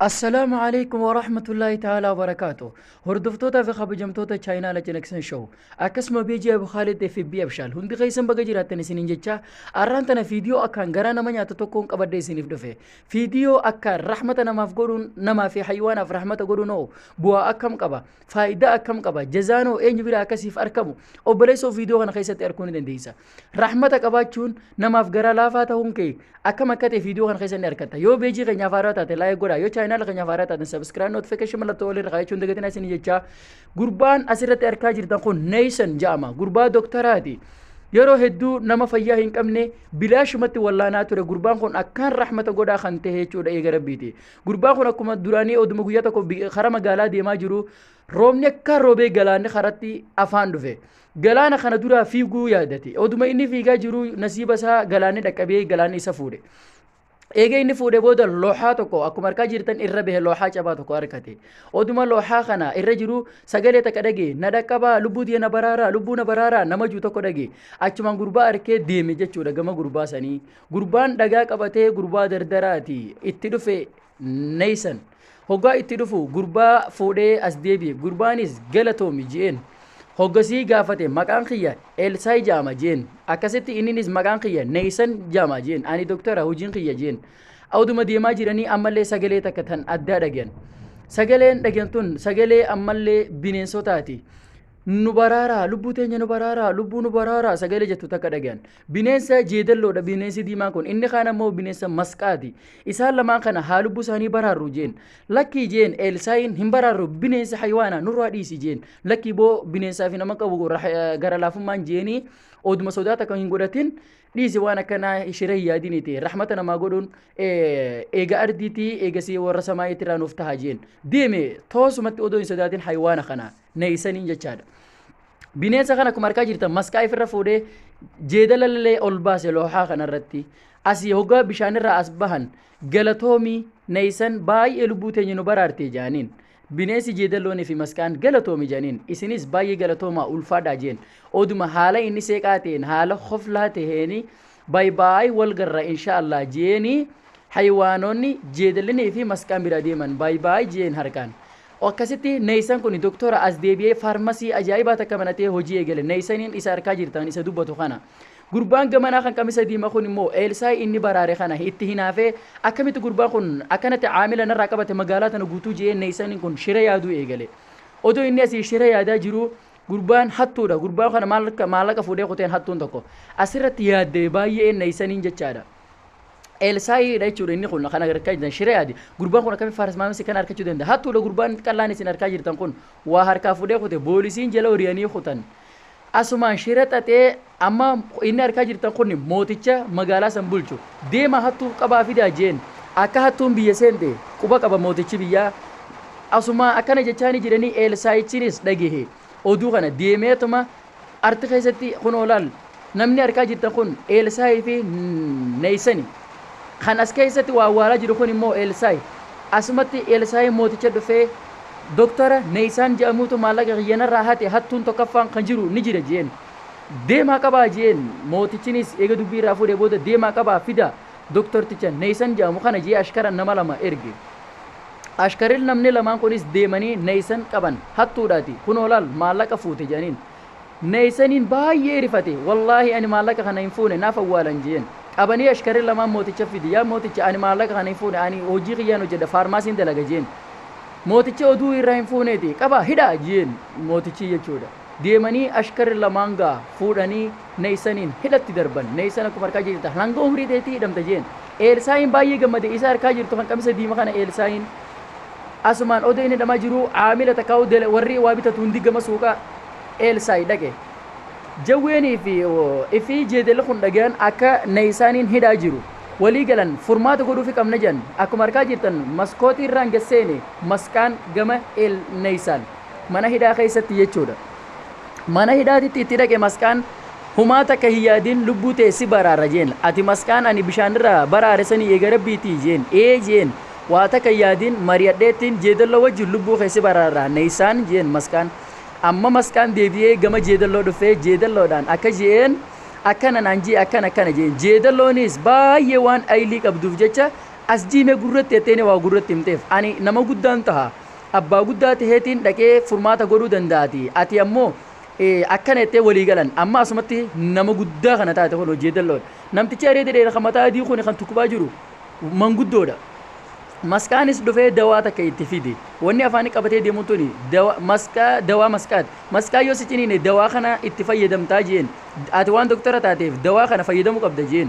Assalaamu alaikum wa rahmatullahi ta'ala wa barakaatu. Hordoftoota fi kabajamtoota chaayinaala Cinaqsan Show. Akkasuma beejii Abu Khaalid FB Abshaal. Hundi keessan baga jiraattan isiniin jecha arraan tana fiidiyoo akkaan garaa nama nyaatu tokkoon qabadde isiniif dhufe. Fiidiyoo akkaan rahmata namaaf godhuun namaa fi haywaanaaf rahmata godhuun hoo bu'aa akkam qaba? Faayidaa akkam qaba? Jazaan hoo eenyu bira akkasiif arkamu? Obboleessoo fiidiyoo kana keessatti arguu ni dandeessa. Rahmata qabaachuun namaaf garaa laafaa ta'uun kee akkam akka ta'e viidiyoo kana keessatti argatta. Yoo beejii keenyaaf haaraa taate laayik godhaa. Yoo chaayinaala keenyaaf haaraa taate sabiskiraayib notifikashin mallattoo walirra kaayachuun dagatinaa isin jechaa. Gurbaan asirratti argaa jirtan kun Neeysan jedhama. Gurbaa doktaraati. Yeroo hedduu nama fayyaa hin qabne bilaashumatti wallaanaa ture gurbaan kun akkaan rahmata godhaa kan ta'e jechuudha eega rabbiiti. Gurbaan kun akkuma duraanii oduma guyyaa tokko karaa magaalaa deemaa jiru roobni akka roobee galaanni karatti afaan dhufe. Galaana kana duraa fiiguu yaadate. Oduma inni fiigaa jiru nasiiba isaa galaanni dhaqqabee galaanni isa fuudhe. Eega inni fuudhee booda looxaa tokko akkuma harkaa jirtan irra bahe looxaa cabaa tokko argate. Oduma looxaa kana irra jiru sagalee takka dhage na dhaqqabaa lubbuu tiyya na baraaraa lubbuu na baraaraa nama juu tokko dhage. Achumaan gurbaa arkee deeme jechuudha gama gurbaa sanii. Gurbaan dhagaa qabatee gurbaa dardaraati itti dhufe Neeysan. Hoggaa itti dhufu gurbaa fuudhee as deebi'e. Gurbaanis galatoomi je'een. Hoggasii gaafate maqaan kiyya Elsaay ja'ama je'een. Akkasitti inninis maqaan kiyya Neeysan ja'ama je'een. Ani doktara hojiin kiyya je'een. Oduma deemaa jiranii ammallee sagalee takka tan addaa dhagayan. Sagaleen dhagayan tun sagalee ammallee bineensotaati. Nu baraaraa, lubbuu teenya nu baraaraa, lubbuu nu baraaraa sagalee jettu takka dhagayan. Bineensa jeedalloodha bineensi diimaa kun inni kaan ammoo bineensa masqaati isaan lamaan kana haa lubbuu isaanii baraarru jeen lakkii jeen eelsaayin hin baraarru bineensi hayiwaana nurraa dhiisi jeen lakkii boo bineensaa fi nama qabu gara laafummaan jeenii oduma sodaata kan hin godhatin dhiisi waan akkanaa shira hin yaadiniti rahmata namaa godhuun eega ardiitii eegasii warra samaayiitti irraa nuuf taha jeen deeme toosumatti odoo hin sodaatin hayiwaana kanaa neeysaniin jechaadha bineensa kana akkuma arkaa jirtan maskaa ifirra fuudhee jeedalallee ol baase loohaa kanarratti asii hogaa bishaanirraa as bahan galatoomii neeysan baay'ee lubbuu teenya nu baraartee jaaniin bineensi jeedalloonii fi maskaan galatoomi janiin isinis baay'ee galatoomaa ulfaadhaa jeen oduma haala inni seeqaa ta'een haala koflaa ta'een By by wal garra insha allah jeeni haywaanoni jeedallini fi masqaan bira deeman by by jeen harkaan Akkasitti Neeysan kuni doktora as deebi'ee faarmasii ajaa'ibaa takka banatee hojii eegale Neeysaniin isa arkaa jirtan isa dubbatu kana Gurbaan gamanaa kan qamisa diima kun immoo Eelsaayi inni baraare kana itti hinaafee Akkamitti gurbaan kun akkanatti caamila narraa qabate magaalaa tana guutuu je'ee Neeysaniin kun shira yaaduu eegale Odoo inni asii shira yaadaa jiruu Gurbaan hattuudha. Gurbaa kana maallaqa maallaqa fuudhee kuteen hattuun tokko. Asirratti yaaddee baay'ee neessaniin jechaadha. Elsaayiidha jechuudha inni kun kan argaa jirtan shiree adi. Gurbaan kun akkamitti faaras maamisi kan argachuu danda'a? Hattuudha gurbaan qallaan isin argaa jirtan kun waa harkaa fuudhee kute boolisiin jala horiyanii kutan. Asumaan shira xaxee Amma inni arkaa jirtan kun mooticha magaalaa san bulchu. Deemaa hattuu qabaa fidaa je'een. Akka hattuun biyya seente quba qaba mootichi biyyaa. Asumaa akkana jechaanii jiranii Eelsaa'ichinis dhagehe oduu kana. Deemeetuma arti keessatti kunoo laal namni arkaa jirtan kun Eelsaa'ii fi Neeysani. Kan as keessatti waa awwaalaa jiru kun immoo Eelsaa'i. Asumatti Eelsaa'iin mooticha dhufee Doktara Neeysaan je'amuutu maallaqa kiyya narraa hate hattuun tokkaffaan kan jiru ni jira je'een. Deemaa qabaa je'een, mootichinis eega dubbii irraa fuudhee booda deemaa qabaa fidaa doktorticha Naysan je'amu kana je'ee ashkara nama lama erge. Ashkaril namni lamaan kunis deemanii Naysan qaban, hattuudhaati, kunoo laal maallaqa fuute je'aniin. Naysaniin baay'ee rifate, wallaahi ani maallaqa kana hin fuune naaf awwaalan je'een. Qabanii ashkarri lamaan mooticha fide, yaa mooticha ani maallaqa kana hin fuune ani hojii kiyyaan hojjadha faarmaasiin dalaga je'een. Mootichi oduu irraa hin fuuneeti, qabaa hidhaa je'een mootichi jechuudha. Deemanii ashkarri lamaan gaa fuudhanii Na'isaniin hidhatti darban. Na'isan akkuma harkaa jee jirta hanga umrii teetii hidhamta jeen. Eelsaa'iin baay'ee gammade isa harkaa jirtu kan qamisa diima kana Eelsaa'iin asumaan odoo inni hidhamaa jiruu aamila takkaa'uu dela warri waa bitatu hundi gama suuqa Eelsaa'i dhaqe. Jawweenii fi ifi jeedalli kun dhagayan akka Na'isaaniin hidhaa jiru. Walii galan furmaata godhuufi qabna jean. Akkuma harkaa jirtan maskootii irraan gad seene Masqaan gama Eel Na'isaan. Mana hidhaa keessatti jechuudha. Mana hidhaatitti itti dhaqe masqaan humaa takka hin yaadin lubbuu tee si baraara jeen. Ati masqaan ani bishaanirraa baraare sanii eega rabbiitii jeen. Ee jeen. Waa takka hin yaadin mari'adheettiin jeedallo wajjin lubbuu kee si baraara neysaan jeen masqaan. Amma masqaan deebi'ee gama jeedalloo dhufee jeedalloodhaan akka je'een akkana naan je'e akkana akkana jeen. Jeedallooniis baay'ee waan aylii qabduuf jecha as jiime gurratti jetteenii waa gurratti himteef. Ani nama guddaan taha. abbaa guddaa taheetiin dhaqee furmaata godhuu danda'ati ati ammoo akkana jettee walii galan amma asumatti nama guddaa kana taate kun hojii dal'oodha namtichi areeda dheera kan mataa adii kun kan tukkubaa jiru manguddoodha masqaanis dhufee dawaa takka itti fide wanni afaanii qabatee deemuun tuni dawa- masqaa dawaa masqaati masqaa yoo si ciniine dawaa kana itti fayyadamtaa jeen ati waan doktara taateef dawaa kana fayyadamuu qabda jeen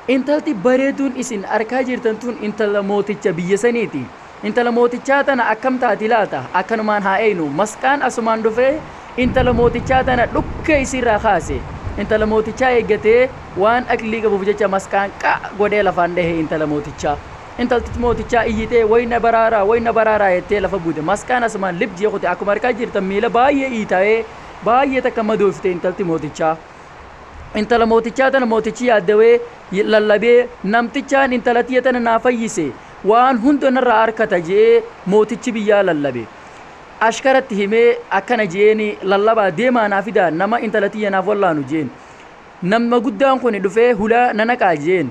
Intalti bareeduun isin arkaa jirtan tun intala mooticha biyya saniiti. Intala mootichaa tana akkam taati laata? Akkanumaan haa eeynu. Masqaan asumaan dhufee intala mootichaa tana dhukkee isiirraa kaase. Intala mootichaa eeggatee waan aqlii qabuuf jecha masqaan qa godhee lafaan dhahe intala mootichaa. Intalti mootichaa iyyitee way na baraaraa way na baraaraa jettee lafa buute. Masqaan asumaan lib jee kute. Akkuma arkaa jirtan miila baay'ee iitaa'ee baay'ee takka madooftee intalti mootichaa. intala mootichaa tana mootichi yaaddawee lallabee namtichaan intala tiyya tana naa fayyise waan hunda narraa arkata je'ee mootichi biyyaa lallabe ashkaratti himee akkana je'een lallabaa deemaa naa fidaa nama intala tiyya naaf wallaanu je'een nama guddaan kun dhufee hulaa na naqaa je'een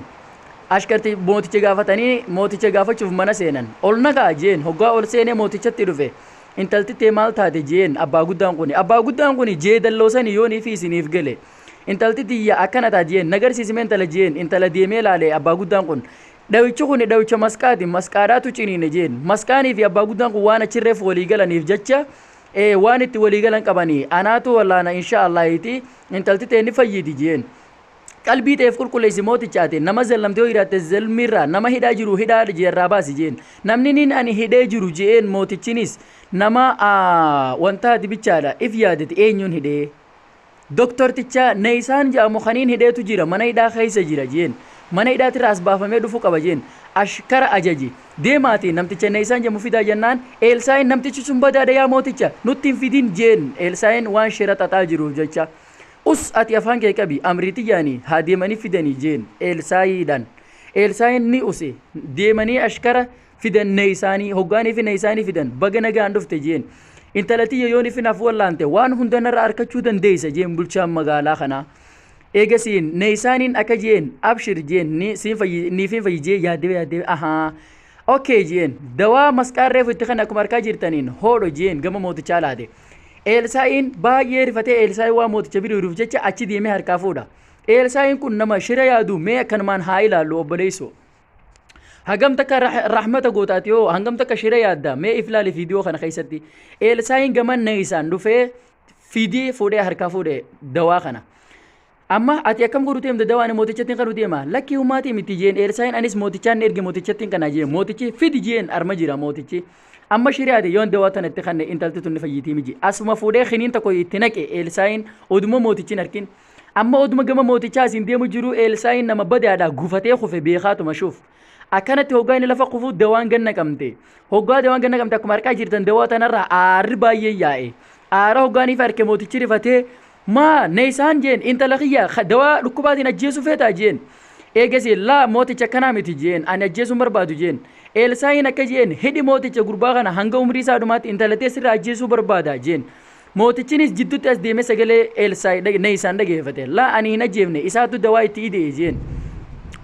ashkarti mooticha gaafatanii mooticha gaafachuuf mana seenan ol naqaa je'een hoggaa ol seenee mootichatti dhufe Intalti tee maal taate je'een abbaa guddaan kuni. Abbaa guddaan kuni jeedalloo sanii yoon ifii isiniif gale. Intalti tiyya akkana taate je'een. Na garsiisi mee intala je'een. Intala deemee laale abbaa guddaan kun. Dhawichi kuni dhawicha masqaati. Masqaadhaatu ciniine je'een. Masqaanii fi abbaa guddaan kun waan achi reef walii galaniif jecha ee waan itti walii galan qabanii. Anaatu wallaana inshaa Allaahiiti intalti tee ni fayyiti je'een. Qalbii teef qulqulleessi mooticha ateen nama zellamte yoo jiraatte zelmirraa nama hidhaa jiru hidhaa jeerraa baasi jeen namni nin ani hidhee jiru je'een mootichinis nama wantaa dibichaadha if yaadeti eenyuun hidhee doktorticha neeysaan je'amu kaniin hidheetu jira mana hidhaa keeysa jira jeen mana hidhaatirraa as baafamee dhufu qaba jeen ashkara ajaji deemaati namticha neeysaan je'amu fidaa jennaan eelsaa'iin namtichi sun badaadha yaa mooticha nutti hin fidin jeen eelsaa'iin waan shira xaxaa jiruuf jecha Us, ati afaan kee qabi, amrii tiyyaani haa deemanii fidanii jeen Eelsaayiidhaan. Eelsaayiin ni use, deemanii ashkara fidan Neeysaanii, hoggaanii fi Neeysaanii fidan, baga nagaan dhufte jeen. Intala tiyya yoon ifi naaf wallaante, waan hunda narra arkachuu dandeeysa jeen bulchaan magaalaa kanaa. Eegasiin Neeysaaniin akka jeen, abshir jeen, ni, siin fayyi, niifiin fayyi jee yaaddee yaaddee, ahaa, Ok jeen dawaa masqaan reefu itti kenne akkuma harkaa jirtaniin hoodho jeen gama mootichaa laate. Eelsaa'iin baay'ee rifatee Eelsaa'i waa mooticha biriiruuf jecha achi deemee harkaa fuudha. Eelsaa'iin kun nama shira yaadu mee akkanumaan haa ilaallu obboleessoo. Hagam takka rahmata gootaati hoo hangam takka shira yaadda mee if ilaali viidiyoo kana keessatti. Eelsaa'iin gama neessaan dhufee fidee fuudhee harkaa fuudhe dawaa kana. Amma ati akkam godhu deemta dawaa ani mootichattiin kanu deema lakkii humaatii miti jeen Eelsaa'iin anis mootichaan ni erge mootichattiin kana jeen mootichi fidi jeen arma jira mootichi amma shiri'aati yoon dawaa tana itti kanne intalti tun ni fayyitii miji asuma fuudhee kiniin tokko itti naqe Eelsaa'iin oduma mootichin arkin amma oduma gama mootichaa asiin deemu jiru Eelsaa'iin nama badaadha gufatee kufe beekaatuma shuuf akkanatti hoggaa inni lafa kufu dawaan ganna qabmte hoggaa dawaan ganna qabmte akkuma harkaa jirtan dawaa tanarraa aarri baay'ee yaa'e aara hoggaaniif harke mootichi rifatee Maa na isaan jeen intala kiyya ka dawaa dhukkubaatiin ajjeesuu feetaa jeen. Eegasii laa mooticha akkanaa miti jeen ani ajjeesuu hin barbaadu jeen. Eelsaa'iin akka jeen hidhi mooticha gurbaa kana hanga umrii isaa dhumaatti intala tee sirraa ajjeesuu barbaada jeen. Mootichinis jiddutti as deemee sagalee Eelsaa'i dhage na isaan dhageefate. Laa ani hin ajjeefne isaatu dawaa itti ide'e jeen.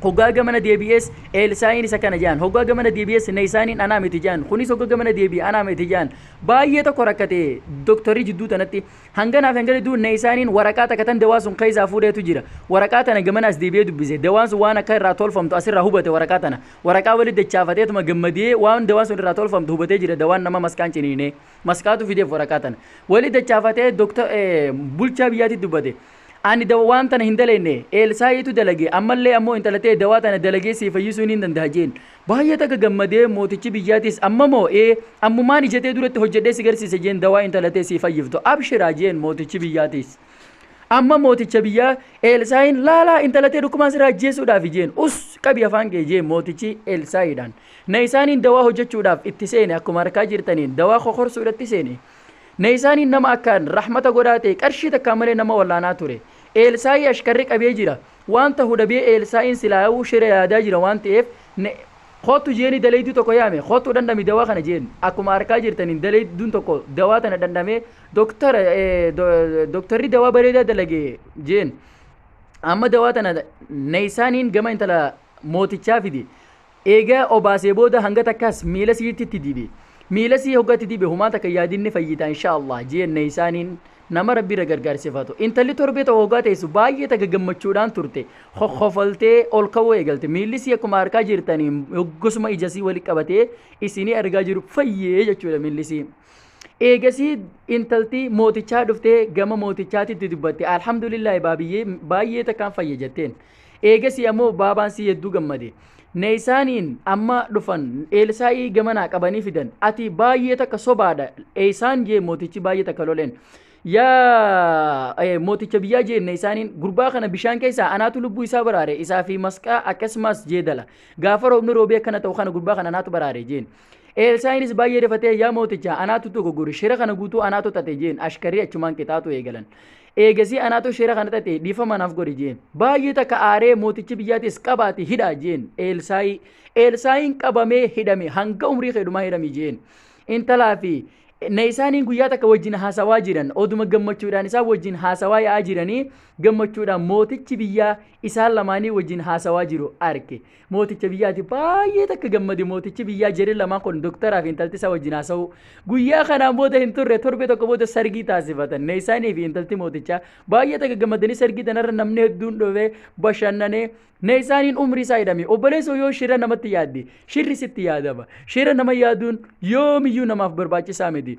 Hoggaa gamana deebi'ees Eelsaa'iinis akkana je'an hoggaa gamana deebi'ees na isaaniin anaa miti je'an kunis hogga gamana deebi'e anaa miti je'an. Baay'ee tokko rakkate doktorri jidduu tanatti. Hanganaa fi hangana jidduu Neeysaanin waraqaa takka tan dawaa sun keeysaa fuudheetu jira. Waraqaa tana gamana as deebi'ee dubbise. Dawaan sun waan akka irraa tolfamtu as irraa hubate waraqaa tana. Waraqaa walitti dachaafateetuma gammadee waan dawaan sun irraa tolfamtu hubatee jira dawaan nama maskaan ciniinee. Maskaatu fideef waraqaa tana. Walitti dachaafatee Dr. Bulchaa biyyaatitti dubbate. Ani dawwaan tana hin daleenne, Eelsaa'iitu dalage, ammallee ammoo intala tee dawaa tana dalagee sii fayyisuu niin dandaha jeen. Baay'ee takka gammadee, mootichi biyyaatis, Amma moo? Ee, ammumaan ija tee duratti hojjadhee si garsiisa jeen, dawaa intala tee sii fayyiftu abshiraa jeen mootichi biyyaatis. Amma mooticha biyyaa, Eelsaa'iin, Laalaa, intala tee dhukkubaan sirraa ajjeesuudhaafi jeen. Us! Qabi afaan kee jeen mootichi Eelsaa'iidhaan. Na isaaniin dawaa hojjachuudhaaf itti seene, akkuma arkaa jirtaniin, dawaa kokorsuudhatti seene. Naysaaniin nama akkaan rahmata godhaa ta'e, qarshii takkaan malee nama wallaanaa ture. Eelsaa'i ashkarri qabee jira. Waan tahu dhabee Eelsaa'iin silaayuu shira yaadaa jira waan ta'eef, Koottu jeeni daleeyduu tokko yaame, koottu dhandhami dawaa kana jeen. Akkuma arkaa jirtaniin daleeyduun tokko dawaa tana dhandhamee, Doktar, doktarri dawaa bareedaa dalage jeen. Amma dawaa tana Naysaaniin gama intala mootichaa fide. Eega obaasee booda hanga takkaas miila siitti itti dibe. Miila sii hogga itti dibe humaa takka yaadin ni fayyita inshaa Allaah jeen Naysaaniin nama Rabbi irra gargaarsifatu. Intalli torbee tokko hoggaa teessu baay'ee takka gammachuudhaan turte. Kokkofoltee ol ka'uu eegalte. Miilli sii akkuma harkaa jirtaniin hoggosuma ija sii wali qabatee isinii argaa jiru fayyee jechuudha miilli sii. Eegasii intalti mootichaa dhuftee gama mootichaatti itti dubbatte. Alhamdulillaahi baabiyyee baay'ee takkaan fayye jetteen. Eegasii ammoo baabaan sii hedduu gammade. Naysaaniin amma dhufan Eelsaa'ii gamanaa qabanii fidan. Ati baay'ee takka sobaadha. Eeysaan jee mootichi baay'ee takka loleen. Yaa mooticha biyyaa jee Naysaaniin gurbaa kana bishaan keessaa anaatu lubbuu isaa baraare isaa fi masqaa akkasumas jeedala. Gaafa roobni roobee akkana ta'u kana gurbaa kana anaatu baraare jeen. Eelsaa'inis baay'ee rifatee yaa mooticha anaatu tokko gori shira kana guutuu anaatu xaxe jeen ashkarrii achumaan qixaaxuu eegalan. Eegasii anaatu shira kana xaxe, dhiifama naaf godhi jeen. Baay'ee takka aaree mootichi biyyaatis qabaati hidhaa jeen Eelsaayi. Eelsaayiin qabamee hidhame hanga umrii kee dhumaa hidhami jeen. Intalaa fi na isaaniin guyyaa takka wajjin haasawaa jiran oduma gammachuudhaan isaan wajjin haasawaa yaa'aa jiranii gammachuudhaan mootichi biyyaa isaan lamaanii wajjin haasawaa jiru arke. mooticha biyyaati baay'ee takka gammade mootichi biyyaa jere lamaan kun doktaraaf intalti isaa wajjin haasa'u guyyaa kanaan booda hin turre torbee tokko booda sargii taasifatan ne isaanii fi intalti mootichaa baay'ee takka gammadanii sargii tanarra namni hedduun dhufee bashannanee ne isaaniin umrii isaa hidhame obboleessoo yoo shira namatti yaadde shirri sitti yaadama shira nama yaaduun yoomiyyuu namaaf barbaachisaa miti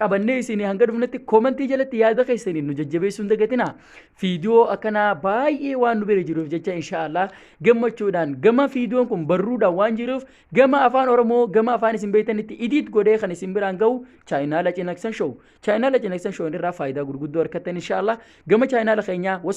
qabannee isinii hanga dhufnetti koomentii jalatti yaada keessaniin nu jajjabeessuu hin dagatinaa. Fiidiyoo akkanaa baay'ee waan nu bira jiruuf jecha inshaallah gammachuudhaan gama fiidiyoon kun barruudhaan waan jiruuf gama afaan Oromoo gama afaan isin beektanitti idiit godhee kan isin biraan ga'u chaayinaala cinaqsan show. Chaayinaala cinaqsan show irraa faayidaa gurguddoo argattan inshaallah gama chaayinaala keenyaa